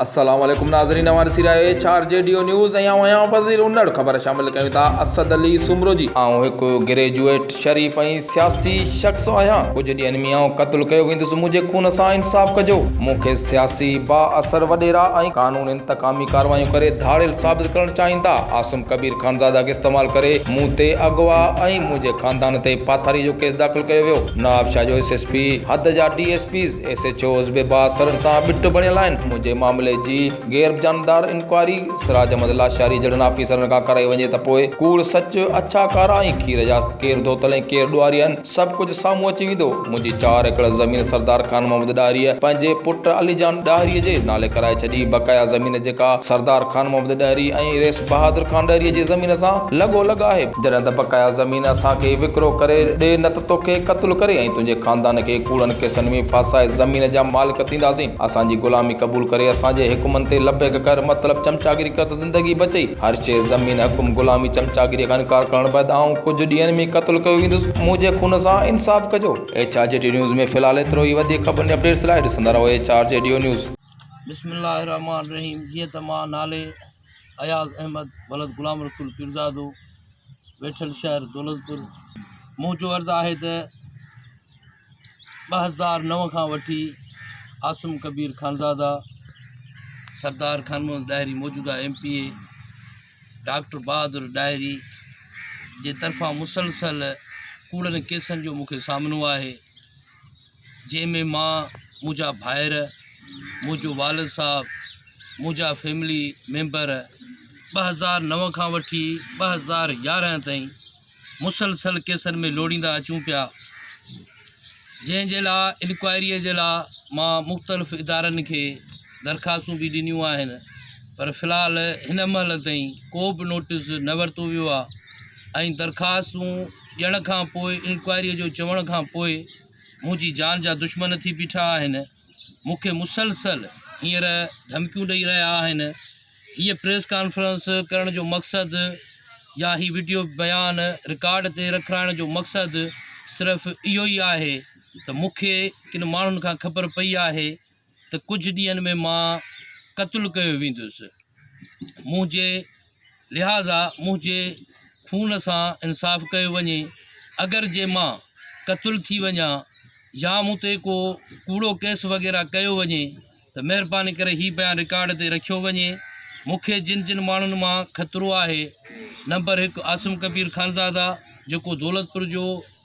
السلام عليڪم ناظرين اوهان ڏسي رهيا آهيو H R G D news ۽ آئون آهيان فضيل انڙ خبر شامل ڪيون ٿا اسد علي سومرو جي. آئون هڪ گريجوئيٽ شريف ۽ سياسي شخص آهيان ڪجهه ڏينهن ۾ آئون قتل ڪيو ويندس منهنجي خون سان انصاف ڪجو مون کي سياسي با اثر وڏيرا ۽ قانون انتقامي ڪارروايون ڪري ڌاڙيل ثابت ڪرڻ چاهين ٿا عاصم ڪبير خانزاده کي استعمال ڪري مون تي اغوا ۽ منهنجي خاندان تي پاٿاري جو ڪيس داخل ڪيو ويو نوابشاهه جو ايس ايس پي حد جا D S Ps S H Os به بااثر سان ٻٽ بڻيل آهن، منهنجي معاملي جي غير جانبدار انڪوائري سراج احمد لاشاري جهڙن آفيسرن کان ڪرائي وڃي ته پوء ڪوڙ سچ، اڇا ڪارا ۽ کير جا ڪير ڌوتل ۽ ڪير ڏوهاري آهن، سڀ ڪجهه سامهون اچي ويندو. منهنجي چار ايڪڙ زمين سردار خان محمد ڏاهريء پنهنجي پٽ علي جان ڏاهريء جي نالي ڪرائي ڇڏي، بقايا زمين جيڪا سردار خان محمد ڏاهري ۽ ريس. بهادر خان ڏهريء جي زمين سان لڳو لڳ آهي. جڏهن ته بقايا زمين اسان کي وڪرو ڪري ڏي نه ته توکي قتل ڪري ۽ تنهنجي خاندان کي ڪوڙن ڪيسن ۾ ڦاسائي زمين جا مالڪ ٿينداسين. اسان جي غلامي قبول ڪري اسان جي حڪمن تي لبيڪ ڪر مطلب چمچاگيري ڪر ته زندگي بچي. هر شيء زمين، حڪم، غلامي، چمچاگيريء کان انڪار ڪرڻ بعد آئون ڪجهه ڏينهن ۾ قتل ڪيو ويندس. منهنجي خون سان انصاف ڪجو. H R G D news ۾ في الحال ايترو ئي وڌيڪ خبرن جي اپڊيٽس لاء ڏسندا رهو H R G D news. بسم الله الرحمٰن الرحيم جيئن ته مان نالي. اياز احمد ولد غلام رسول پيرزادو ويٺل شهر دولتپور منهنجو عرض آهي ته ٻه هزار نو کان وٺي عاصم ڪبير خانزاده سردار خان محمد ڏاهري موجوده M P A doctor Bahadur Dahri جي طرفان مسلسل ڪوڙن ڪيسن جو مون کي سامنو آهي جنهن ۾ مان، منهنجا ڀائر، منهنجو والد صاحب، منهنجا فيملي ميمبر ٻه هزار نو کان وٺي ٻه هزار يارهن تائين مسلسل ڪيسن ۾ لوڙيندا اچون پيا جنهن جي لاء انڪوائريء جي لاء مان مختلف ادارن کي درخواستون به ڏنيون آهن پر في الحال هن مهل تائين ڪو به نوٽيس نه ورتو ويو آهي ۽ درخواستون ڄڻ کان پوء انڪوائريء جو چوڻ کان پوء منهنجي جان جا دشمن ٿي بيٺا آهن. مون کي مسلسل هينئر ڌمڪيون ڏئي رهيا آهن. هيء پريس ڪانفرنس ڪرڻ جو مقصد يا هي وڊيو بيان رڪارڊ تي رکرائڻ جو مقصد صرف اهو ئي آهي ته مون کي ڪن ماڻهن کان خبر پئي آهي ته ڪجهه ڏينهن ۾ مان قتل ڪيو ويندس. منهنجي لحاظا منهنجي خون سان انصاف ڪيو وڃي. اگر جي مان قتل ٿي وڃان يا مون تي ڪو ڪوڙو ڪيس وغيره ڪيو وڃي ته مهرباني ڪري هي بيان رڪارڊ تي رکيو وڃي. مون کي جن جن ماڻهن مان خطرو آهي نمبر هڪ عاصم ڪبير خانزاده جيڪو دولتپور جو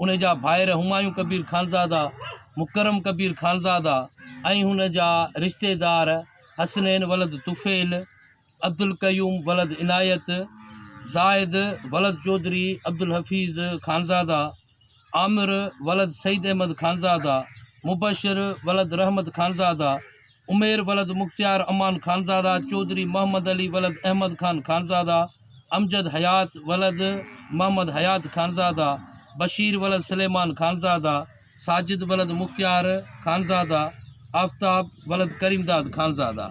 ان جا ڀائر همايون ڪبير خانزاده، مڪرم ڪبير خانزاده ۽ هن جا رشتيدار حسنين ولد طفيل، عبدالقيوم ولد عنايت، زاهد ولد چوڌري عبدالحفيظ خانزاده، عامر ولد سيد احمد خانزاده، مبشر ولد رحمت خانزاده، عمير ولد مختيار امان خانزاده، چوڌري محمد علي ولد احمد خان خانزاده، امجد حيات ولد محمد حيات خانزاده، بشير ولد سليمان خانزاده، ساجد ولد مختيار خانزاده، آفتاب ولد Karimdad Khanzada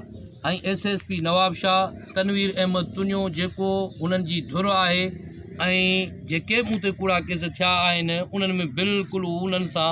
۽ S S P Nawabshah Tanveer Ahmed Tunio جيڪو هنن جي ڌر آهي ۽ جيڪي به مون تي ڪوڙا ڪيس ٿيا آهن انهن ۾ بلڪل هو انهن سان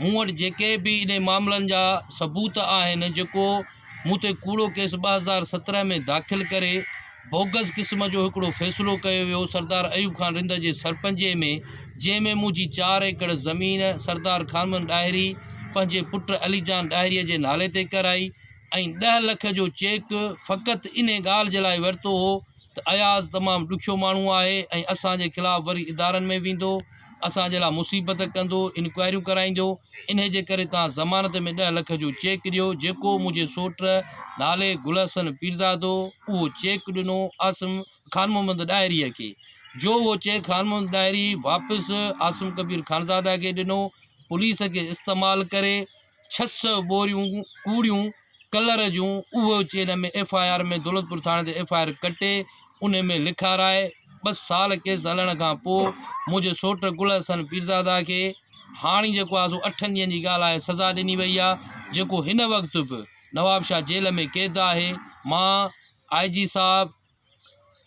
مون وٽ جيڪي به انهي معاملن جا ثبوت آهن جيڪو مون تي ڪوڙو ڪيس ٻه هزار سترهن ۾ داخل ڪري بوگس قسم جو هڪڙو فيصلو ڪيو ويو سردار ايوب خان رند جي سرپنجي ۾ جنهن ۾ منهنجي چار ايڪڙ زمين سردار خانمن ڏاهري پنهنجي پٽ علي جان ڏاهري جي نالي تي ڪرائي ۽ ڏهه لک جو چيڪ فقط انهي ڳالهه جي لاء ورتو هو ته اياز تمام ڏکيو ماڻهو آهي ۽ اسان جي خلاف وري ادارن ۾ ويندو اسان جي لاء مصيبت ڪندو انڪوائريون ڪرائيندو انهي جي ڪري توهان ضمانت ۾ ڏهه لک جو چيڪ ڏيو جيڪو منهنجي سوٽ نالي گل حسن پيرزادو اهو چيڪ ڏنو عاصم خان محمد ڏاهري کي جو اهو چيڪ خان محمد ڏاهري واپس عاصم ڪبير خانزاده کي ڏنو پوليس کي استعمال ڪري ڇهه سئو ٻوريون ڪوڙيون ڪلر جون اهو اچي ان ۾ ايف آء آر ۾ دولتپور ٿاڻي تي ايف آء آر ڪٽي ان ۾ لکارائي ٻه سال ڪيس هلڻ کان پوء منهنجي سوٽ گل حسن پيرزاده کي هاڻي جيڪو آسو اٺن ڏينهن جي ڳالهه آهي سزا ڏني وئي آهي جيڪو هن وقت به نوابشاهه جيل ۾ قيد آهي مان آء جي صاحب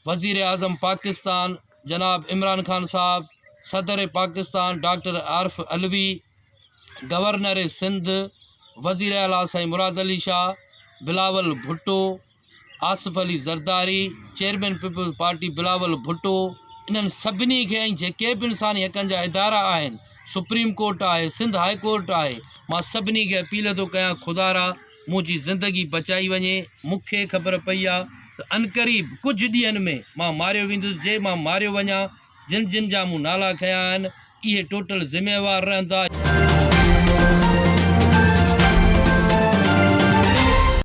وزيراعظم پاڪستان جناب عمران خان صاحب، صدر پاڪستان ڊاڪٽر عارف علوي، گورنر سنڌ وزير اعلٰي سائين Murad Ali Shah, Bilawal Bhutto, Asif Ali Zardari, chairman Peoples Party Bilawal Bhutto انهن سڀني کي ۽ جيڪي به انساني حقن جا ادارا آهن سپريم ڪورٽ آهي سنڌ هاء ڪورٽ آهي مان سڀني کي اپيل ٿو ڪيان خدارا منهنجي زندگي بچائي وڃي. مون کي خبر پئي آ ته عنقريب ڪجهه ڏينهن ۾ مان ماريو ويندس. جي مان ماريو وڃان، جن جن جا مون نالا کنيا آهن، اهي ٽوٽل ذميوار رهندا.